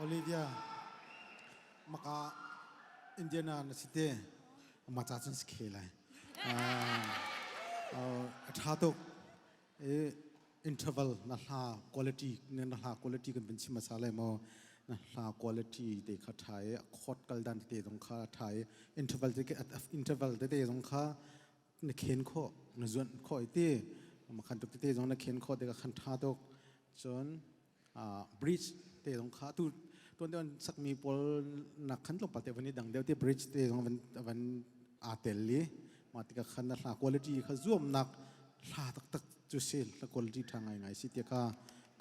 Olivia maka Indiana na si te ma cha chun si khe lai a tha tuk interval na hla quality ne na hla quality kan bin sim sa le mo na hla quality te kha thai a khot kal dan te dong kha thai interval te ke interval te te dong kha na khen kho na zuan kho ti ma khan tuk te dong na khen kho te ka khan tha tok chon bridge te zong kha tu tuan te sakmi pawl nak khan tlawmpal te van i dang deu te bridge te zong van van a tel li ma tika khan na quality kha zuamnak hla tak tak chu si la quality tha ngai ngai si te kha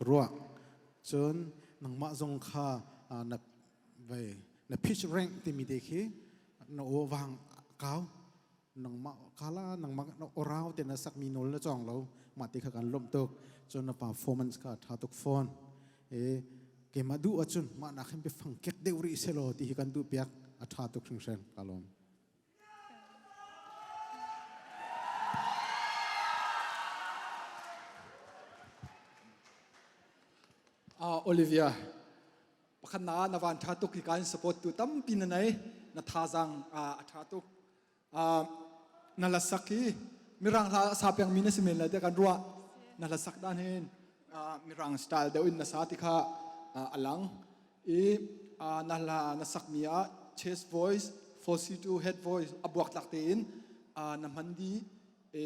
ruwa chun nangma zong kha na vai na pitch rank ti mi te khi na o wang kau nangmah kala nangmah orau te na sakmi nol na chong lo ma ti kha kan lom tuk cun na performance kha tha tuk phone e ke ma du acun ma na khem pe fang kek deu ri se lo ti hi kan du piak a tha tuk hring hring ka lom Ah, Olivia, pakhat na na van tha tuk hi kan support tu tampi na nei na thazang a tha tuk na la sak hi mirang hla sa piang mi na si men la te kan ruah na la sak dan hin mirang style deu in na sa ti kha alang i na la na sak mi a chest voice falsy to head voice abuak tak te in na hman di e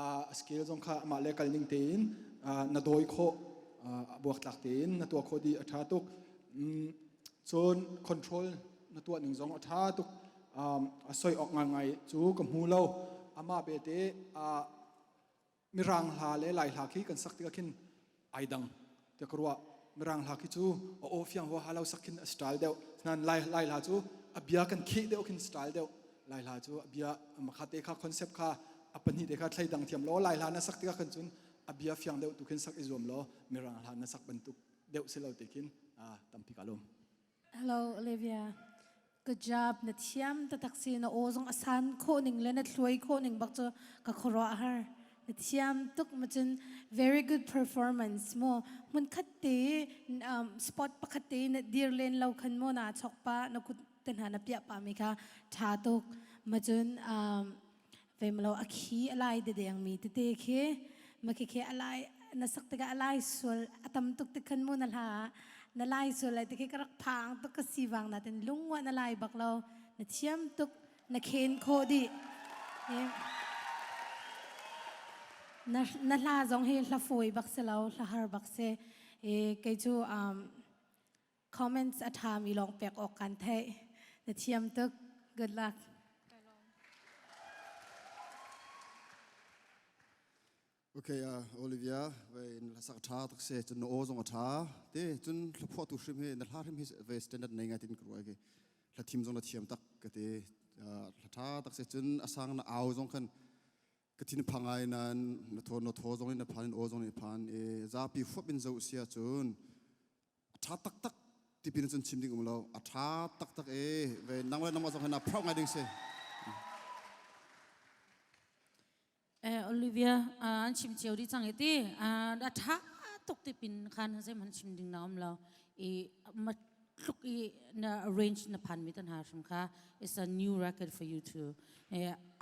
a scale zong kha amah le kal ning tein na dawi khawh a buak tlak tein na tuah khawh di a ṭha tuk cun control na tuah ning zong a ṭha tuk a soi awk ngai cu ka hmu lo amah bete mirang hla le lai hla khi kan sak tikah khin ai dang tiah ka ruah mirang hla khi cu a aw fiang huaha lo sakhin a style deuh nan lai lai hla cu a bia kan khih deuh khin style deuh lai hla cu a bia makha te kha concept kha a pahnih te kha thlai dang thiam lo lai hla na sak tikah kan cun a bia fiang deuh tu khin sak i zuam lo mirang hla na sak bantuk deuh si lo te khin tampi ka lum Hello Olivia. Good job. Na thiam tatak si na aw zong asan kho ning le na thluai kho ning bak cu ka khoro har. Na thiam tuk ma cun very good performance mo. Mun khat te um, spot pakhat te na dir len lo khan mo na chok pa na kut te hna na pia pa mi ka tha tuk ma cun um, Veimlo a khi a lai dedengmi tete khi makhikhe a lai na sak tikah a lai sual a tam tuk tik khan mu na hla na lai sual lai tikhi ka rak phang tuk ka si wang na ten lungwa na lai bak lo na thiam tuk na khen kho di na na hla zong hi hla fawi bak se lo hla har bak se e kei cu um Comments a ṭhami lawng pek awk kan theih. Na thiam tuk. Good luck. Okay, uh, Olivia, ve in la sak tha tak se chun no o zong a tha te chun thluphua tu hrim he na hla hrim hi ve standard nei ngai tin kru ke la thim zong la thiam tak ka te la tha tak se chun asang na au zong khan ka thin phangai nan na tho no tho zong in na phan in o zong ni phan e za pi fup in zo sia chun tha taktak tipin cun chim ding um lo a tha taktak e ve nang le nangmah zong hena phroh ngai ding si eh Olivia an chim chiao ri chang eti a tha tuk tipin khan zem han chim ding na um lo i tluk i na range na phan mi tan ha sham kha it's a new record for you to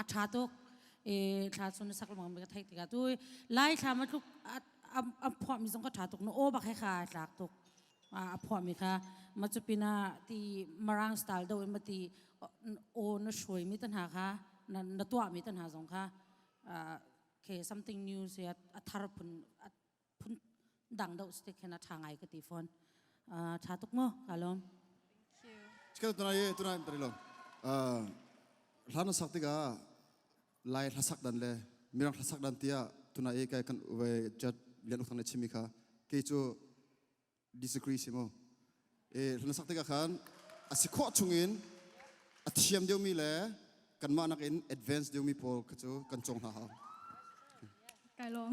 a tha tuk e thla sun sak long be thai tiga tu lai thla ma tluk a phuahmi zong ka ṭha tuk no aw bak he kha tlak tuk a phuahmi kha ma cu pinah ti marang style do in ma ti aw na hruaimi tan ha kha na tuahmi tan ha zong kha ke something new se a thar phun phun dang do stick khen a ṭha ngai ka ti phone ṭha tuk mo kalom Chikal tunai tunai tari lo hlan na sak tikah lai hlasak dan le mirang hlasak dan tiah tuna e kai kan we jat lian uthang ne chimi kha ke chu disagree si mo e hlana sak tikah khan asi kho chungin a thiam deumi le kanmah nakin advance deumi pawl kha chu kan chong hna hau kai long